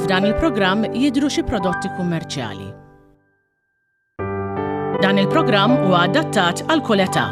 F'dan il-programm jidhru xi prodotti kummerċjali. Dan il-programm huwa adattat għal kull età.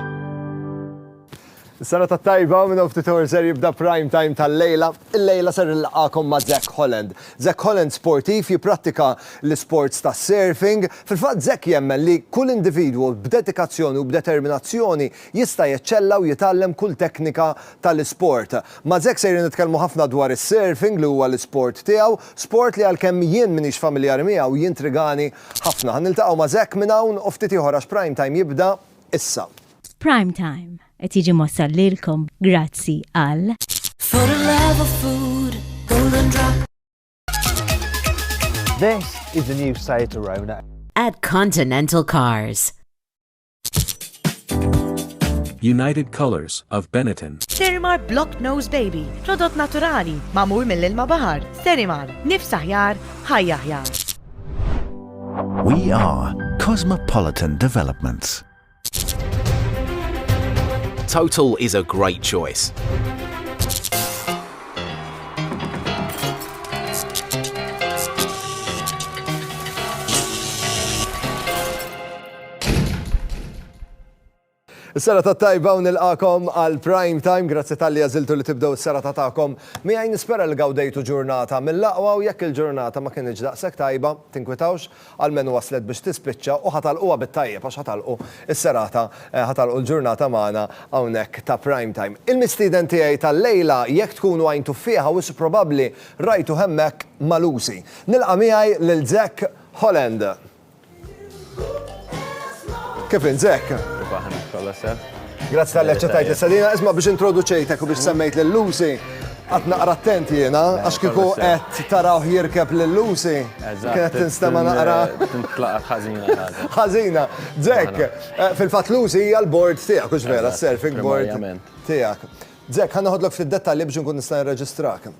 Sena ta' tajba minn ftit ser jibda prime time tal-lejla. Il-lejla ser nilqakom ma' Jack Holland. Zack Holland sportiv, jipprattika l-isports tas-surfing. Fil-fatt Zack jemmen li kull individwu b'dedikazzjoni u b'determinazzjoni jista' jeċċella u jitgħallem kull teknika tal-isport. Ma' Zack sejrin nitkellmu ħafna dwar is-surfing li huwa l-isport tiegħu, sport li għalkemm jien m'iniex familjari miegħu jintrigani ħafna. Ħa niltaqgħu ma' Zack minn hawn u ftit ieħor għax Prime Time jibda issa. Prime Time. Qed jiġi mwassal lilkom grazzi għal. For the love of food, golden drop. This is the new Seat Arona. At Continental Cars. United Colors of Benetton. Sterimar Block Nose Baby, prodott naturali, mamur mill-ilma bahar. Sterimar, nifs aħjar, ħajja aħjar. We are Cosmopolitan Developments. Total is a great choice. Sara ta' tajba u nilqakom għal prime time, grazzi tal-li għaziltu li tibdew s-sara ta' ta'kom. Mi għaj nispera li għawdejtu ġurnata mill-laqwa u jekk il-ġurnata ma kienieġ daqsek tajba, tinkwitawx, Almenu waslet biex tispiċċa u ħa tagħlquha bit-tajjeb għax ħa tagħlqu s-serata, ħa tagħlqu l-ġurnata magħna hawnhekk ta' Prime Time. Il-mistieden tiegħi tal-lejla jekk tkunu għajntu fih u wisq probabbli rajtuh hemmhekk ma' Lucy. Nilqa' miegħi lil Zack Holland. Kif int Zack? Kif aħna, kollha sew? Grazzi tal-li ċetajt l-istadina, isma biex introduċejtek u biex semmejt l-Lucy, għat naqra attent jena, għax kiku għet taraw jirkeb l-Lucy, kienet tinstema naqra. ħazina. Zek, eh, fil-fat Lucy hija l-board tijak, ux vera, surfing board tijak. Zek, ħanna ħodlok fil-detalli biex nkun nista' nirreġistrak.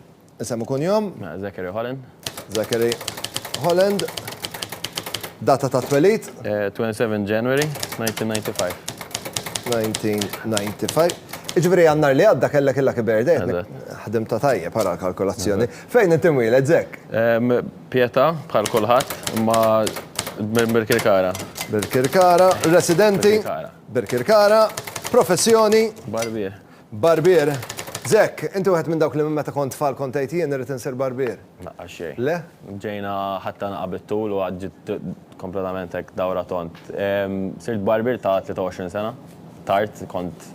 Isem u kunjom? Zachary Holland. Zachary Holland. Data ta' twelid? 27 January 1995. 1995. Iġveri għannar li għadda kella kella kiber dejt. Ħadim ta' tajjeb għara l-kalkolazzjoni. Fejn inti mwiled, Zek? Pieta, bħal kulħadd, ma Birkirkara. Birkirkara, residenti? Birkirkara. Birkirkara, professjoni? Barbier. Barbier, Zekk, inti wieħed minn dawk li minn meta kont tfal kont tgħid jien irrid insir barbier? Laqqas xejn. Le? Ġejna ħadtha naqqa bit-tul u għad ġiet kompletament hekk dawra tond. Sirt barbier ta' 23 sena, tard, kont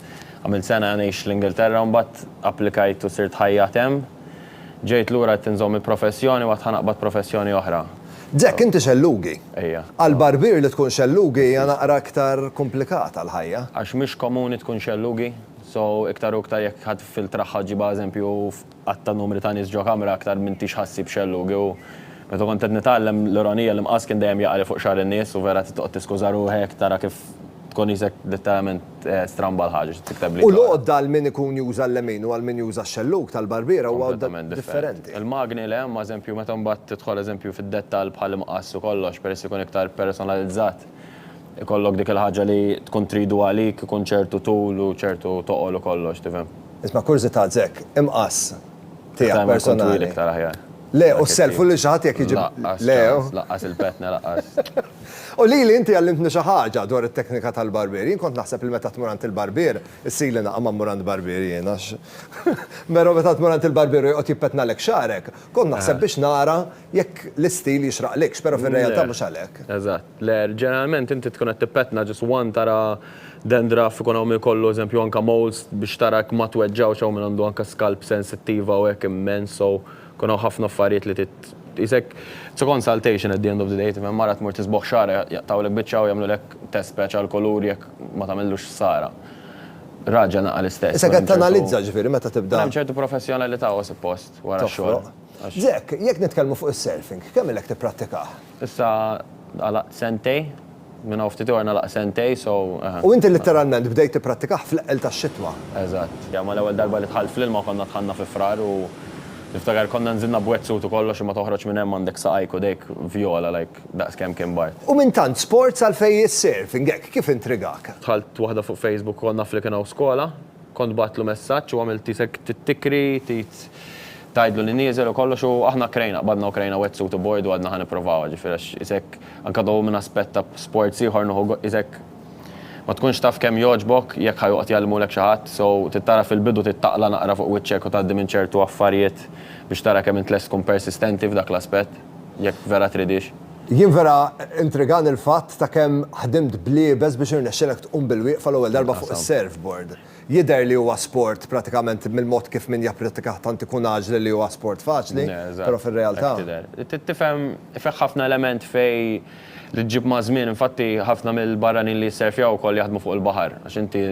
għamilt sena ngħix l-Ingilterra u mbagħad applikajt u sirt ħajjat hemm. Ġejt lura għedt inżomm il-professjoni u għad ħa naqbad professjoni oħra. Jack, inti xellugi. Ejja. Għal barbier li tkun xellugi hija naqra iktar komplikata l-ħajja. Għax mhix komuni tkun xellugi, so iktar u iktar jekk ħa tiffiltraħħa ġibha eżempju f'għadd ta' numri ta' nies ġo kamra aktar m'intix ħa ssib xellugi u meta kont qed nitgħallem l-ironija l-imqass kien dejjem jaqa' li fuq xagħar in-nies u vera trid toqgħod tiskuża ruħek tara kif tkun qisek letteralment Stramba l-ħaġa xi tikteb li. U l-għodda għal min ikun juża l-lemin u għal min juża x-xellug tal-barbiera huwa għodda differenti. Il-magni le, imma eżempju meta mbagħad tidħol eżempju fid-dettall bħall-imqass u kollox peress li jkun iktar personalizzat, ikollok dik il-ħaġa li tkun tridu għalik ikun ċertu tul u ċertu toqol u kollox, tifhem. Isma' kurżità Zek, imqass tiegħek personali. Iktar ikun twil iktar aħjar. Le, u s-self u lil xi ħadd jekk iġib. Laqqas, laqqas il-petna laqqas. U lili inti għallimtni xi ħaġa dwar it-teknika tal-barbier. Jien kont naħseb li meta tmur għand il-barbier, issirli naqgħa ma mmur għand barbier jien għax Però meta tmur għand il-barbier u joqgħod jippetnalek xagħrek, kont naħseb biex nara jekk l-istil jixraqlikx, però fir-realtà mhux għalhekk. Eżatt. Le, ġeneralment inti tkun qed tippetna just one tara dandruff ikun hawn minn kollu, eżempju anke moles biex tara jekk ma tweġġgħux hawn min għandu anke scalp sensittiva u hekk immens so. Kun hawn ħafna affarijiet li trid tqisek. It's a consultation at the end of the day, tifhem, mara tmur tisbogħ xagħarha jaqtgħulek biċċa u jagħmlulek test patch għall-kulur jekk ma tagħmillux ħsara. Raġel naqal istess. Issa qed tanalizza, ġifieri meta tibda. Kun hemm ċertu professjonalità, u suppost, wara x-xogħol. Toħroq. Jack, jekk nitkellmu fuq is-surfing, kemm ilek tipprattikah? Issa għalaqt sentej. Minn hawn ftit ieor nagħlaq sentej, so eħe. U inti litteralment bdejt tipprattikah fl-eqqel tax-xitwa. Eżatt. Ja ma l-ewwel darba li dħalt fl-ilma konna dħalna fi Frar u niftakar konna nżilna b'wetsuit u kollox imma toħroġ minn hemm għandek saqajk u dejk vjola like daqs kemm kien bard. U minn tant sports għalfejn is-surfing hekk, kif intrigak? Dħalt waħda fuq Facebook u kont naf li kien hawn skola. Kont bgħattlu messaġġ u għamilt isek tikri, tgħid, tgħidlu li nieżel u kollox u aħna krejna, qbadna u krejna wetsuit u board u għadna ħa nipprovawha, ġifieri għax isek anke though minn aspett ta' sports ieħor nieħu go, isek ma tkunx taf kemm jogħġbok jekk ħa joqgħod jgħallmulek xi ħadd, so trid tara fil-bidu trid taqla' naqra fuq wiċċek u tgħaddi minn ċertu affarijiet biex tara kemm int lest tkun persistenti f'dak l-aspett. jekk vera tridhiex. Jien vera intrigani l-fatt ta' kemm ħdimt bl-iebes biex irnexxilek tqum bil-wieqfa l-ewwel darba fuq is-surfboard. Jidher li huwa sport pratikament mill-mod kif min japprittikah tant ikun għaġli li huwa sport faċli, però fir-realtà. Tifhem, fih ħafna element fejn li ġġib maż-żmien, infatti ħafna mill-barranin li jissurfjaw ukoll jaħdmu fuq il-baħar għax inti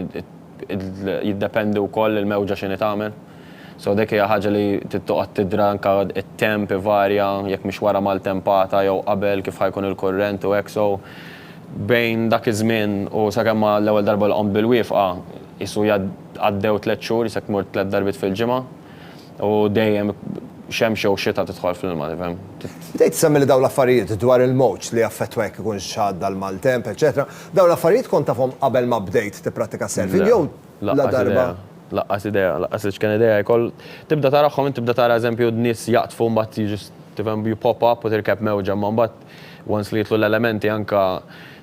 jiddependi wkoll il-mewġa x'inhi tagħmel. So dik hija ħaġa li trid toqgħod tidra anke t-temp ivarja jekk mhix wara maltempata jew qabel kif ħa jkun il-kurrent u hekk so bejn dak iż-żmien u sakemm ma l-ewwel darba li qomt bil-wiefqa qisu għaddew tliet xhur jisek tmur tliet darbiet fil-ġimgħa u dejjem xemx jew xita tidħol fl-ilma tifhem. Bdejt issemmi li dawn l-affarijiet dwar il-mowġ li jaffettwa jekk ikunx għadda l-maltemp eċċetera dawn l-affarijiet kont tafhom qabel ma bdejt tipprattika s-surfing jew Laqqas idea, laqqas idea, laqqas iċken idea jkoll. Tibda tarahom int tibda tara eżempju nies jaqdfu mbagħad jiġu tifhem you pop up u tirkeb mewġa imma mbagħad once li jidħlu l-elementi anke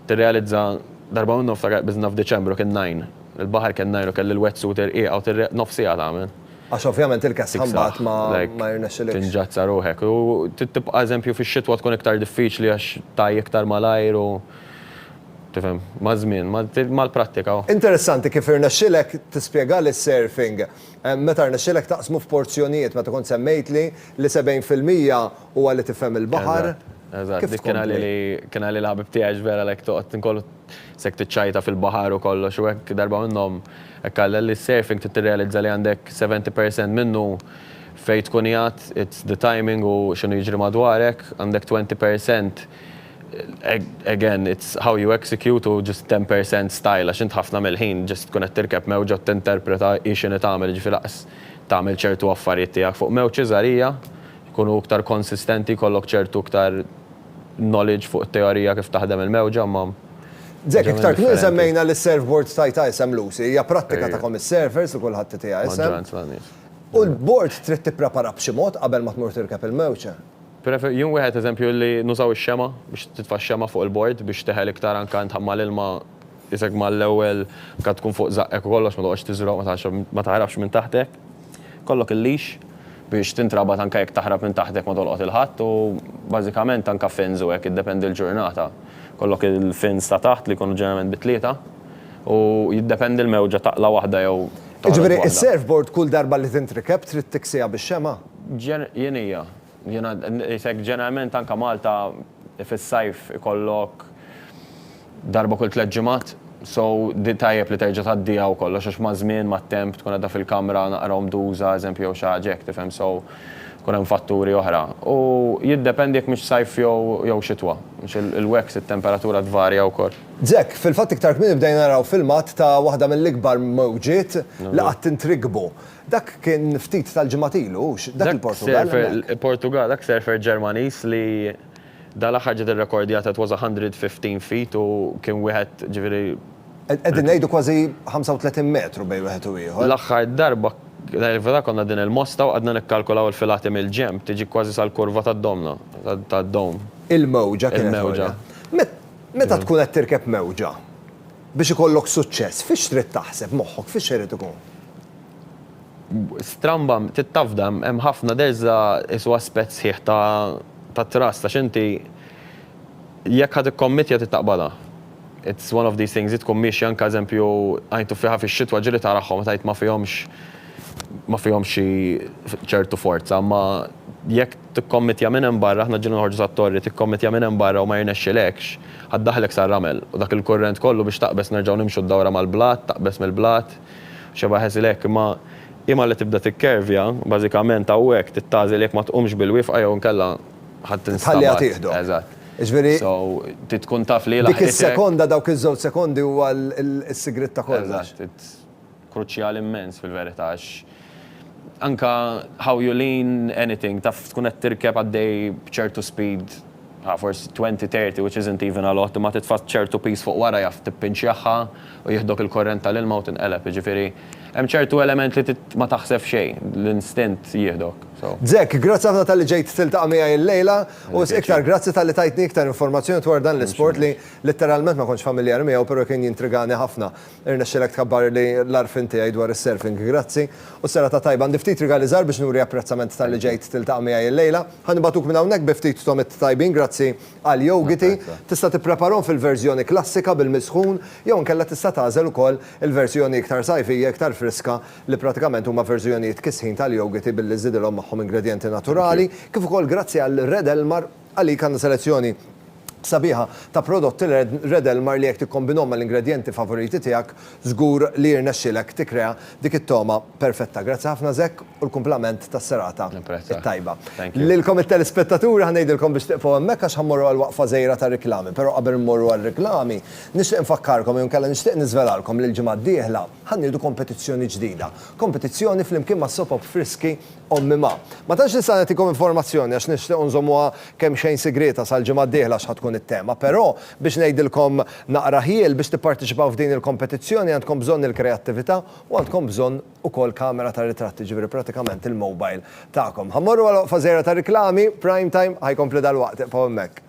tirrealizza darba minnhom ftakar qbiżna f'Diċembru kien nine il-baħar kien nine u kelli l-wetsuit irqiqa u tirrealizza nofs siegħa tagħmel. Għax ovvjament il-kesħa mbagħad ma jirnexxilikx. Tinġazza ruħek u tibqa' eżempju fix-xitwa tkun iktar diffiċli għax tgħi iktar malajr u Tifhem, maż-żmien, mal-prattika. Interessanti kif irnexxielek tispjega li s-surfing, meta rnexxielek taqsmu f'porzjonijiet, meta kont semmejtli li 70 fil-mija huwa li tifhem il-baħar. Eżatt, eżatt. Kif tkompli? Dik kien għalili l-ħabib tiegħi għax vera like toqgħod inkollu sek tiċċajta fil-baħar u kollox u hekk darba minnhom hekk qallha li s-surfing trid tirrealizza li għandek 70 percent minnu fejn tkun qiegħed, it's the timing u x'inhu jiġri madwarek, għandek 20 percent Again, it's how you execute u just ten per cent style għax int ħafna mill-ħin just tkun qed tirkeb mewġa u tinterpreta hi x'inhi tagħmel, jiġifieri lanqas tagħmel ċertu affarijiet tiegħek fuq mewġ iżgħarija, jkunu iktar konsistenti, jkollok ċertu iktar knowledge fuq it-teorija kif taħdem il-mewġa imma. Zek, iktar kmieni semmejna li s-surfboard tajtha isem Lucy, hija prattika tagħkom is-surfers li kulħadd itiha isem. U l-board trid tipprepara b'xi mod qabel ma tmur tirkeb il-mewġ? Pereżempju, jien wieħed eżempju li nużaw ix-xemgħa biex titfa' x-xemgħa fuq il-bord biex teħel iktar anke int tħammar l-ilma isek mal-ewwel kad tkun fuq żaqqek u kollox ma toqgħodx tiżroq ma tagħrafx ma taħrabx minn taħtek. Kollok il-leash biex tintrabat anke jekk taħrab minn taħtek ma tolqot il-ħadd u bażikament anke fins u hekk iddependi l-ġurnata. Kollok il-fins ta' taħt li jkunu ġeneralment bi tlieta u jiddependi l-mewġa taqla' waħda jew toħroġ waħda. Jiġifieri s-surfboard kull darba li tintrikeb trid tiksiha bix-xemgħa? Jien hija. Jiena ngħidlek ġeneralment anke Malta fis-sajf ikollok darba kull tliet ġimgħat, so di tajjeb li terġa' tgħaddiha u kollox għax maż-żmien, mat-temp tkun qiegħda fil-kamra naqra omduża, eżempju, jew xi ħaġa hekk, tifhem, so jkun hemm fatturi oħra. U jiddependi jekk mhix sajf jew xitwa, għax il-wax it-temperatura tvarja wkoll. Jack, Fil-fatt iktar kmieni bdejna naraw filmat ta' waħda mill-ikbar mewġiet li qatt intrikbu. Dak kien ftit tal-ġimgħat ilu, hux? Dak il-Portugall hemmhekk. Dak Portugall, dak surfer Ġermaniż li dal-aħħar ġiet irrekordjata it was 115 feet u kien wieħed, ġifieri. Qegħdin ngħidu kważi 35 metru bejn wieħed u ieħor. L-aħħar darba, fil-verità konna qegħdin il-Mosta u qgħadna nikkalkulaw il-filati mill-ġenb, tiġi kważi sal-kurva tad-domna, tad-dome. Il-mewġa kienet għolja. Il-mewġa. Meta tkun qed tirkeb mewġa, Biex ikollok suċċess, fiex trid taħseb, moħħok fiex irid ikun? Stramba, tittafda, hemm ħafna, there is a, is huwa aspett sħiħ ta' ta' trust għax inti jekk ħa tikkommittja trid taqbadha. It's one of these things, hi tkun miexja anke eżempju għajn tuffieħa fix-xitwa ġieli tarahom meta għid ma fihomx ma fihomx xi ċertu forza, imma jekk Tikkommittja minn hemm barra, aħna ġieli noħorġu sat-torri, tikkommittja minn hemm barra u ma jirnexxilekx, ħa ddaħħlek sar-ramel, u dak il-kurrent kollu biex taqbeż nerġgħu nimxu d-dawra mal-blat, taqbeż mill-blat, u xebgħa ħesil hekk, imma hi malli tibda tikkervja, bażikament hawnhekk trid tagħżel jekk ma tqumx bil-wifqa jew inkella ħa tinstabat. Tħalliha tieħdok. Eżatt. Jiġifieri. So, trid tkun taf li hi laħqitek. Dik is-sekonda, dawk iż-żewġ sekondi huwa s-sigriet ta' kollox. Eżatt. kruċjali immens fil-verità għax anke how you lean anything taf tkun qed tirkeb għaddej b'ċertu speed ha forsi twenty, thirty which isn't even a lot imma titfa' ċertu piż fuq wara jaf tippinċjaħħa u jieħdok il-kurrent tal-ilma u tinqeleb jiġifieri hemm ċertu element li ma taħseb xejn l-instint jieħdok so. Zek, grazzi ħafna talli ġejt tiltaqa' miegħi l-lejla u wisq iktar grazzi talli tajtni iktar informazzjoni dwar dan l-isport li litteralment ma kontx familjari miegħu però kien jintrigani ħafna. Irnexxielek tkabbar li l-għarfien tiegħi dwar is-surfing. Grazzi. U serata tajba. Għandi ftit rigali żgħar biex nuri apprezzament talli ġejt tiltaqa' miegħi l-lejla. Ħa nibagħtuk minn hawnhekk bi ftit tomit tajbin grazzi għal yogiti. Tista' tippreparahom fil-verżjoni klassika bil-misħun jew inkella tista' tagħżel ukoll il-verżjoni iktar sajfija, iktar friska li pratikament huma verżjonijiet kisħin tal-yogiti billi żżidilhom magħhom ingredjenti naturali. Kif ukoll grazzi għal Red Elmar. Għalik għandna selezzjoni sabiħa ta' prodotti Red Elmar li jekk tikkombinhom mal-ingredjenti favoriti tiegħek, żgur li jirnexxilek tikkrea dik it-togħma perfetta. Grazzi ħafna Zek u l-kumplament tas-serata t-tajba. Lilkom it-telespettaturi ħa ngħidilkom biex tiqfgħu hemmhekk għax ħa mmorru għal waqfa żgħira ta' riklami. Però qabel immorru għar-riklami, nixtieq infakkarkom jew inkella nixtieq niżvelalkom li l-ġimgħa d-dieħla ħa nieħdu kompetizzjoni ġdida. Kompetizzjoni flimkien mas-Soap Friski Ommi ma. Ma tantx nista' nagħtikom informazzjoni għax nixtiequ nżommuha kemxejn sigrieta sal-ġimgħa d-dieħla x'ħa tkun it-tema, però biex ngħidilkom naqra ħjiel, biex tipparteċipaw f'din il-kompetizzjoni għandkom bżonn il-kreattività u għandkom bżonn ukoll kamera tar-ritratti, jiġifieri pratikament il-mobile tagħkom. Ħa mmorru għal oqfa żgħira ta' riklami, Prime Time ħa jkompli dalwaqt, ibqgħu hemmhekk.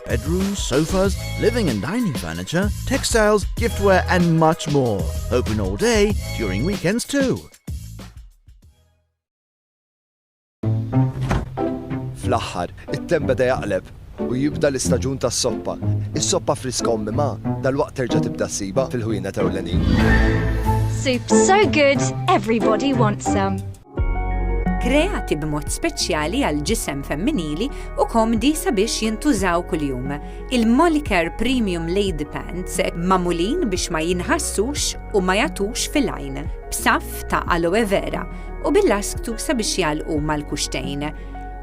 bedrooms, sofas, living and dining furniture, textiles, giftware and much more. Open all day, during weekends too. Fl-aħħar, it-tem beda jaqleb u jibda l-istaġun tas-soppa. Is-soppa friska ommi ma dal-waqt terġa' tibda siba fil-ħwienet ewlenin. Soups so good, everybody wants some. kreati b'mod speċjali għal ġisem femminili u komdi sabiex jintużaw kuljum. Il-Molicare Premium Lady Pants mamulin biex ma jinħassux u ma jatux fil-għajn, b'saf ta' aloe vera u bil-lasktu sabiex jalqu mal-kuxtejn.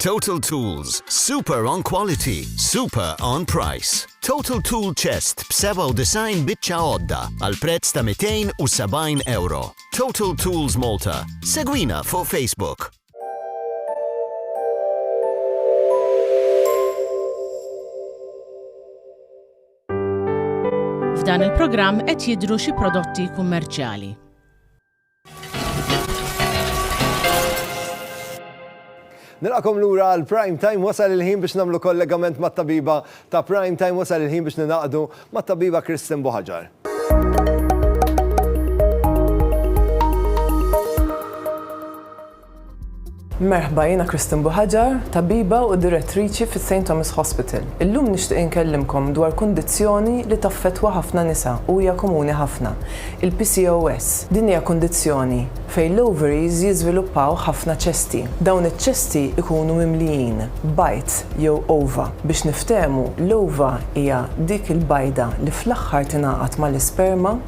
Total Tools, super on quality, super on price. Total Tool Chest b'97 biċċa għodda għal prezz ta' 270 euro. Total Tools Malta. Segwina fuq Facebook. F'dan il-programm qed jidru xi prodotti kummerċjali. Nilqakom lura għal Prime Time wasal il-ħin biex namlu kollegament ma' tabiba ta' Prime Time wasal il-ħin biex ninaqdu ma' tabiba Kristin Buħaġar. Merħba, jiena Kristin Buħaġar, tabiba u direttriċi fi St. Thomas Hospital. Illum nixtieq inkellimkom dwar kundizzjoni li taffettwa ħafna nisa u hija komuni ħafna, il-PCOS. Din hija kundizzjoni fejn l-ovaries jiżviluppaw ħafna ċesti. Dawn iċ-ċesti jkunu mimlijin bajd jew ova. Biex niftehmu, l-ova hija dik il-bajda li fl-aħħar tingħaqad mal-isperma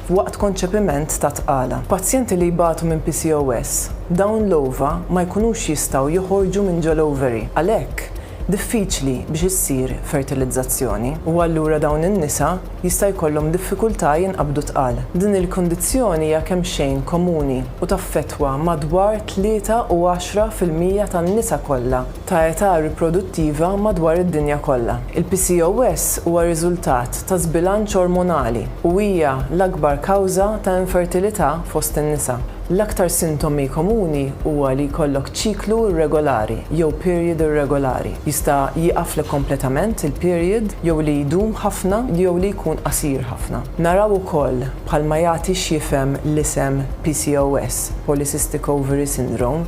waqt konċepiment ta' tqala. Pazjenti li jbatu minn PCOS, dawn l-ova ma jkunux jistgħu joħorġu minn ġol-ovary, għalhekk diffiċli biex issir fertilizzazzjoni, u allura dawn in-nisa jista' jkollhom diffikultà jinqabdu tqal. Din il-kundizzjoni hija kemxejn komuni u taffettwa madwar tlieta u għaxra fil-mija tan-nisa kollha ta' età riproduttiva madwar id-dinja kollha. Il-PCOS huwa riżultat ta' żbilanċ ormonali u hija l-akbar kawża ta' infertilità fost in-nisa. L-aktar sintomi komuni huwa li jkollok ċiklu irregolari jew period irregolari, jista' jieqaflek kompletament il-period jew li jdum ħafna jew li jkun qasir ħafna. Naraw ukoll, bħalma jagħti x'jifhem l-isem PCOS, Polycystic Ovary Syndrome,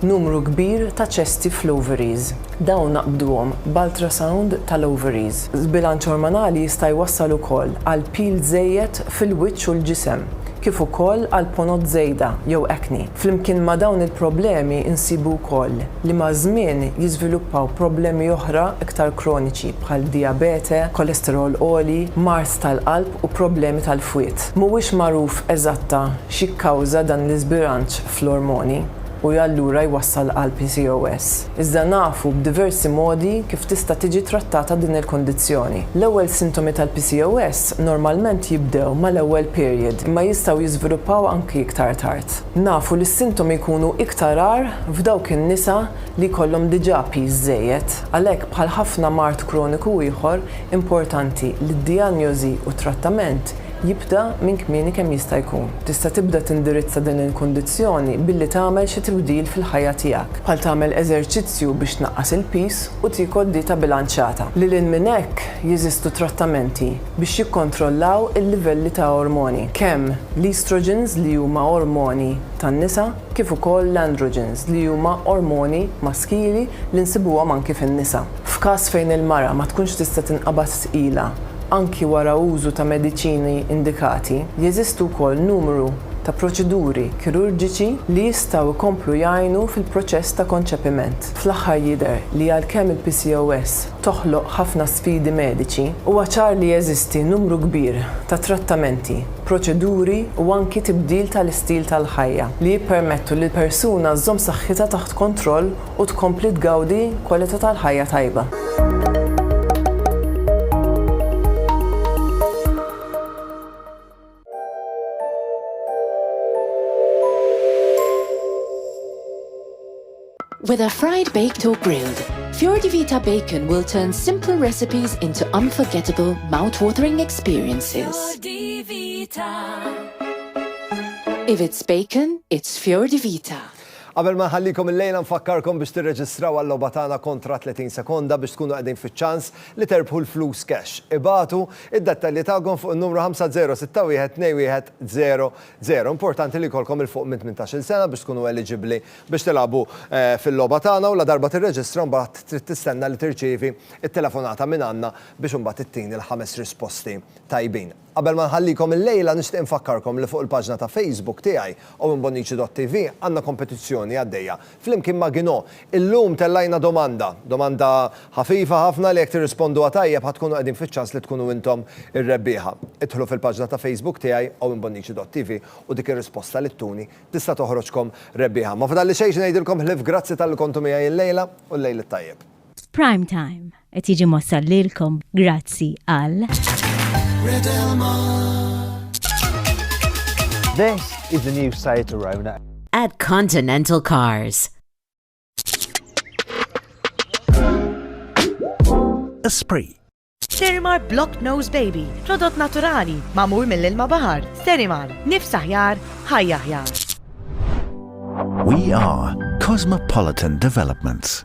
Numru kbir ta' ċesti fl-ovaries. Dawn naqbduhom b'ultrasound tal-ovaries. Żbilanċ ormonali jista' jwassal ukoll għal pil żejjed fil-wiċċ u l-ġisem, kif ukoll għal ponot żejda jew acne. Flimkien ma' dawn il-problemi nsibu wkoll li maż-żmien jiżviluppaw problemi oħra iktar kroniċi bħal dijabete, kolesterol għoli, mard tal-qalb u problemi tal-fwied. Mhuwiex magħruf eżatta x'jikkawża dan l-iżbilanċ fl-ormoni u allura jwassal għal PCOS. Iżda nafu b'diversi modi kif tista' tiġi trattata din il-kundizzjoni. L-ewwel sintomi tal-PCOS normalment jibdew mal-ewwel period imma jistgħu jiżviluppaw anki iktar tard. Nafu li s-sintomi jkunu iktar agħar f'dawk in-nisa li jkollhom diġà piż żejjed. Għalhekk bħal ħafna mard kroniku ieħor, importanti li d-dijanjosi u t-trattament jibda minn kmieni kemm jista' jkun. Tista' tibda tindirizza din il-kundizzjoni billi tagħmel xi tibdil fil-ħajja tiegħek, bħal tagħmel eżerċizzju biex tnaqqas il-piż u tiekol dieta bilanċjata. Lil hinn minn hekk, jeżistu trattamenti biex jikkontrollaw il-livelli ta' ormoni, kemm l-estrogens li huma ormoni tan-nisa, kif ukoll l-androgens li huma ormoni maskili li nsibuhom anki fin-nisa. F'każ fejn il-mara ma tkunx tista' tinqabad tqila anki wara użu ta' mediċini indikati, jeżistu wkoll numru ta' proċeduri kirurġiċi li jistgħu jkomplu jgħinu fil-proċess ta' konċepiment. Fl-aħħar jidher li għalkemm il-PCOS toħloq ħafna sfidi mediċi, huwa ċar li jeżisti numru kbir ta' trattamenti, proċeduri u anki tibdil tal-istil tal-ħajja li jippermettu li l-persuna żżomm saħħitha taħt kontroll u tkompli tgawdi kwalità tal-ħajja tajba. Whether fried, baked or grilled, Fjordi Vita Bacon will turn simple recipes into unforgettable, mouth-watering experiences. Fjordi Vita. If it's bacon, it's Fjordi Vita. Qabel ma ħallikom il-lejla nfakkarkom biex tirreġistraw għall-logħba tagħna kontra 30 sekonda biex tkunu qegħdin fiċ-ċans li terbħu l-flus cash. Ibagħtu id-dettalji tagħkom fuq in-numru 50612100. Importanti li jkollkom 'il fuq minn tmintax-il sena biex tkunu eliġibbli biex tilagħbu fil-logħba tagħna u ladarba tirreġistra mbagħad trid tistenna li tirċievi t-telefonata mingħandna biex imbagħad ittini l-ħames risposti tajbin. Qabel ma nħallikom illejla nixtieq infakkarkom li fuq il-paġna ta' Facebook tiegħi, owenbonnici.tv, għandna kompetizzjoni għaddejja flimkien ma' Gino. Illum tellajna domanda, domanda ħafifa ħafna li jekk tirrisponduha tajjeb ħa tkunu qegħdin fiċ-ċans li tkunu intom ir-rebbieħa. Idħlu fil-paġna ta' Facebook tiegħi, owenbonnici.tv, u dik ir-risposta li ttuni tista' toħroġkom rebbieħa. Ma fadalli xejn xi ngħidilkom ħlief grazzi talli kontu miegħi illejla u l-lejl it-tajjeb. F'prime time. Qed jiġi mossal lilkom grazzi għal. This is the new Seat Arona. At Continental Cars. Esprit. Sterimar Block Nose Baby, prodott naturali, mamur mill-ilma bahar. Sterimar, nifs aħjar, ħajja aħjar. We are Cosmopolitan Developments.